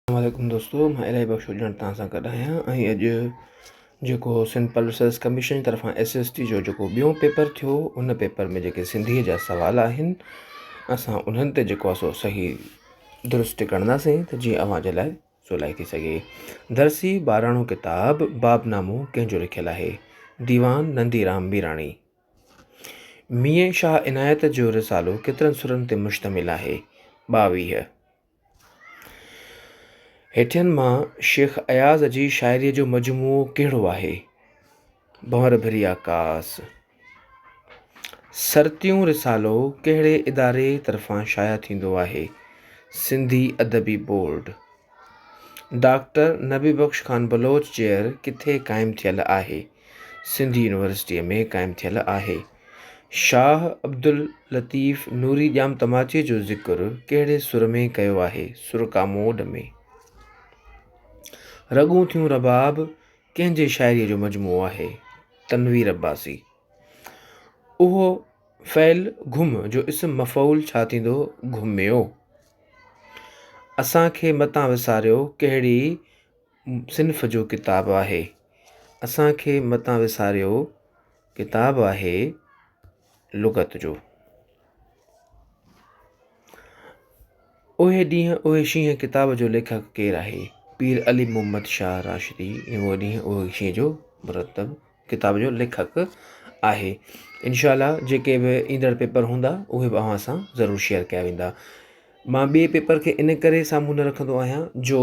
السلام عليڪم دوستو مان الائي بخش ڄڻ تان سان گڏ آهيان ۽ اڄ جيڪو سنڌ پبلڪ سروس ڪميشن جي طرفان ايس ايس ٽي جو جيڪو ٻيو پيپر ٿيو ان پيپر ۾ جيڪي سنڌيء جا سوال آهن اسان انهن تي جيڪو آهي سو صحيح درست ڪنداسين ته جيئن اوهان جي لاء سولائي ٿي سگهي درسي ٻاراڻو ڪتاب باب نامو ڪنهن جو لکيل آهي ديوان نندي رام ميراڻي مينهن شاهه عنايت جو رسالو ڪيترن سرن تي مشتمل آهي ٻاويهه هيٺين مان شيخ اياز جي شاعريء جو مجموعو ڪهڙو آهي؟ ڀنور ڀري آڪاس. سرتيون رسالو ڪهڙي اداري طرفان شايع ٿيندو آهي؟ Sindhi Adabi Board. Doctor Nabi Bakhsh Khan Baloch chair ڪٿي قائم ٿيل آهي؟ سنڌ يونيورسٽيء ۾ قائم ٿيل آهي. شاهه عبداللطيف نوري ڄام تماچي جو ذڪر ڪهڙي سر ۾ ڪيو آهي؟ سر ڪاموڏ ۾. رڳون ٿيون رباب ڪنهن جي شاعريء جو مجموعو آهي؟ تنوير عباسي. اهو فعل گهم جو اسم مفعول ڇا ٿيندو؟ گهميو. اسان کي متان وساريو ڪهڙي صنف جو ڪتاب آهي؟ اسان کي متان وساريو. ڪتاب آهي لغت جو. اهي ڏينهن اهي شينهن ڪتاب جو ليکڪ ڪير آهي؟ پير علي محمد شاهه راشدي اهو ڏينهن اهي شينهن جو مرتب ڪتاب جو ليکڪ آهي انشاء الله جيڪي به ايندڙ پيپر هوندا اهي به اوهان سان ضرور شيئر ڪيا ويندا مان ٻي پيپر کي ان ڪري سامهون نه رکندو آهيان جو